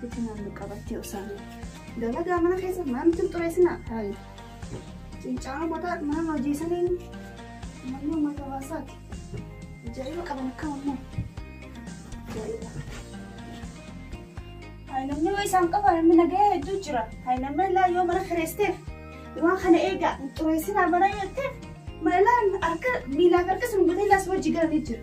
Bifa naannoo qabattee osaan. Dalagaa mana keessa maamti hin xureessinaa. Hayi. Cincaa mataa mana hojii saniin manni uummata hawaasaati. Jariba qaban akka ammoo. Jariba. Hayi namni waa isaan qaba namni nagaya hedduu jira. Hayi namni ilaa yoo mana kireesiteef waan kana eegaa hin xureessinaa mana yoo jetteef mana ilaa harka miilaaf harka sun gutee ilaa si wajji galanii jira.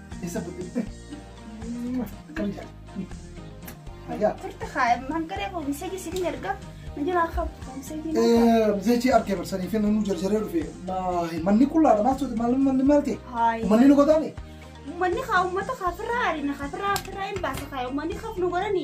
Isa fudhee. Akkam jira? Ayyaa. Turte haa hangaree koo miseeji siin erga. Na jira akka miseeji. Miseeji argee barsanii fi namni jarjaree dhufe. Manni qullaadha maal sooti maal manni maal ta'e? Haayi. Manni nu godhaani? Uummanni haa uummata kaafirraa arina kaafirraa kaafirraa hin baasa kaa uummanni kaaf nu godhani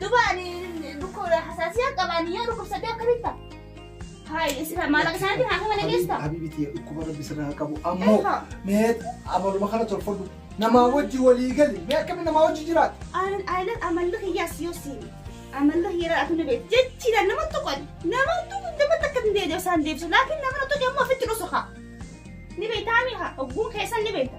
Duba ani dhukkuba hasaasiyaan qaba ani yoo dhukkubsadde akkamitti ta'a? Hayi isira maallaqa isaaniitiin haakama na geessu ta'a. Habibitii dhukkuba rabbi sirraa haa qabu. Ammoo Eegaa. mee amaluma kana tolfadhu. Namaa wajji walii gali. Mee akkamitti namaa wajji jiraata? Ani ayilan amalli kiyyaas yoo siini. Amalli kiyyaa atu na beeku. Jechiidhaan nama tuqan. Nama tuqan nama takka hin deebi'u isaan deebisu. Laakiin nama na tuqe immoo ofitti dhusu haa. Ni beektaa mi'a? Ogguun keessan ni beekta.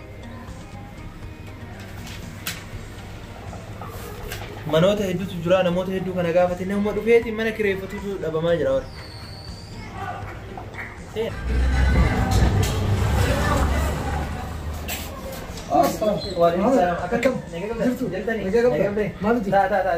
Manoota hedduutu jira namoota hedduu kana gaafate nama dhufeeti mana kireeffatutu dhabamaa jira warra. Waalaikumsalam. Akkam? Nagaa qabda? Jirtu? Jirtanii? Nagaa qabda? Nagaa qabda? Maal hojii? Taa, taa, taa.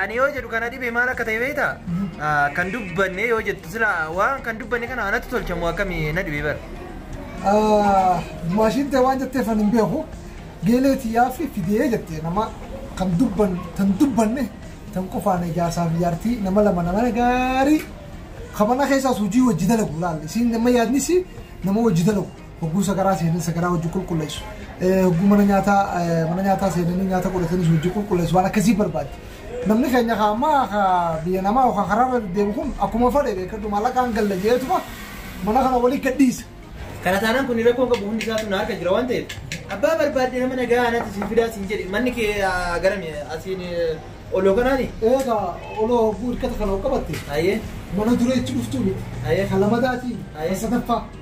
Ani yoo jedhu kana dhibe maal akka ta'e beekta? Kan dubbanne yoo jettu sila waan kan dubbanne kana anatti tolchamu akkamii na dhibe bara. Maashiin ta'e waan jetteef ani hin beeku. Geelee tiyyaa fi fidee jettee nama kan dubban tan dubbanne tan qofaan ijaarsaa fi jaartii nama lama nama gaarii kabana keessaas hojii wajji dalagu laal. Isiin nama yaadnis nama wajji dalagu. Hogguu sagaraa seenan sagaraa hojii qulqulleessu. Hogguu mana nyaataa mana nyaataa seenanii nyaata godhatanis hojii qulqulleessu waan akkasii barbaaddi. Namni keenya kaa ammaa kaa biyya namaa yookaan karaa irra deddeemu kun akkuma fedhe beekadhu maallaqaan galla jeetuma mana kana walii gadhiisa. Kana taanaan kun rakkoon qabu hundi isaatu na harka jira waan ta'eef abbaa barbaadde nama nagaa anatti siin fidaa siin jedhe manni kee ah, garami asiin eh, oloo kanaani. Eegaa oloo hogguu hirkata kana qabatte Ayyee. mana dureetti dhuftuu miti. Ayyee. Kan lamadaatiin Ayyee. kan sadaffaa.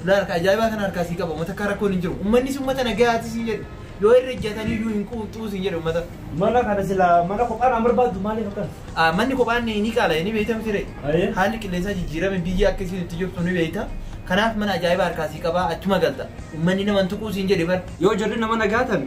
Fulaa harka ajaa'ibaa kana harkaa sii qaba uummata akka rakkoon hin jiru. Uummannis uummata nagayaati siin jedhu. Yoo irra ijjatanii iyyuu hin quuxxuu siin jedhu uummata. Mana kana sila mana kophaa naan barbaaddu maaliif akkan? Ah, Manni kophaan ni qaala ni beekta miti ree. Ayee. Haalli qilleensaa jijjiirame biyya akka isiin itti jirtu ni beekta. Kanaaf mana ajaa'ibaa harkaa sii qaba achuma galta. Uummanni nama hin tuquu siin jedhe bar. Yoo jarri nama nagaa tan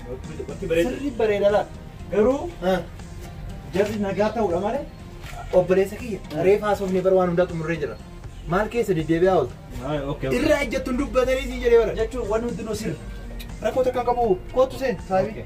Bakki bareeda. Sirrii bareeda laata? Garuu jarri nagaa ta'uudha malee obboleessa kiyya reefa haasofnee bara waan hundaa xumurree jira. Maal keessa deddeebi'aa oolta? Irraa ejjattuun dubbatanii siin jedhee bara. Jechuun waan hundinuu sirri. Rakkoo takka hin qabu kootu seen saabii.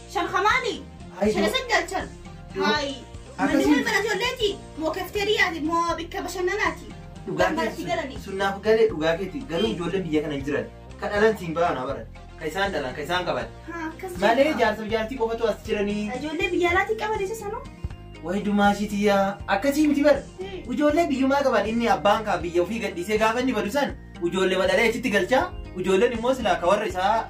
Shan hamaani. Ayi, Shan doo- isin galchan. doo- Haayi. Manni akkasii- wal mana ijoolleeti. Moo kafteeriyaati. Moo bikka bashannanaati. Dhugaa Kan manatti keetti galanii. sun naaf galee dhugaa keetti garuu Ee. ijoolleen biyya kana hin jiran ka dhalan siin bahan habaran ka isaan dhalan ka isaan qaban Ha, akkas malee jedha. jaarsa fi jaartii qofatu as jiranii Ijoollee biyya alaatii qaban isa sanuu. wayi dumaashitiyaa akkasii miti bar Ee. ijoollee biyyumaa qaban inni abbaan kaa biyya ofii gadhiisee gaafa inni badu san ijoollee madalee achitti galchaa ijoolleen immoo silaa ka warra isaa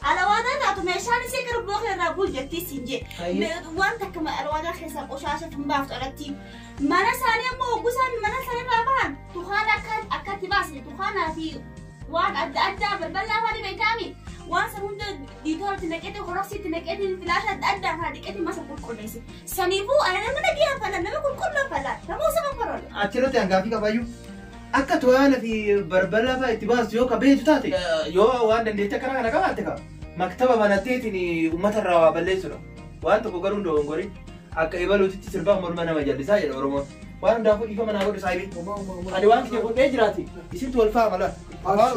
Alawaadaa taatu meeshaan isii garbuwa kana irraa bul jettii siin jee. Hayyuu. Me- Waan takka ma- alawaadaa keessaa qoshaasha tun baaftu alatti. Mana isaanii ammoo hoggusaan mana isaanii irraa bahan tukaan akka akkatti baase tukaanaa fi waan adda addaa balbalaa waan hin beekaami. Waan san hunda diitoolatti naqeeti koroksiitti naqeeti filaasha adda addaa faa dhiqeeti masa qulqulleessi. Saniifuu ana nama nagaa fala nama qulqulluu fala nama osoo kan faroole. Achirratti hangaafii qabayyuu. Akka toyaana fi barbarraa faa itti baastu yoo ka beektu taate yoo waan dandeetti akkana kana qabaatte ka maktaba banatteetiin uummata irraa waa balleessudha. Waan tokko garuu hin dogongorin akka ebaluutitti sirbaa morma nama jallisaa jedha Oromoon. Waan hundaafuu dhiifama naa godhu saayibii. Ani waan kiyya godhee jiraati isintu wal faama laata.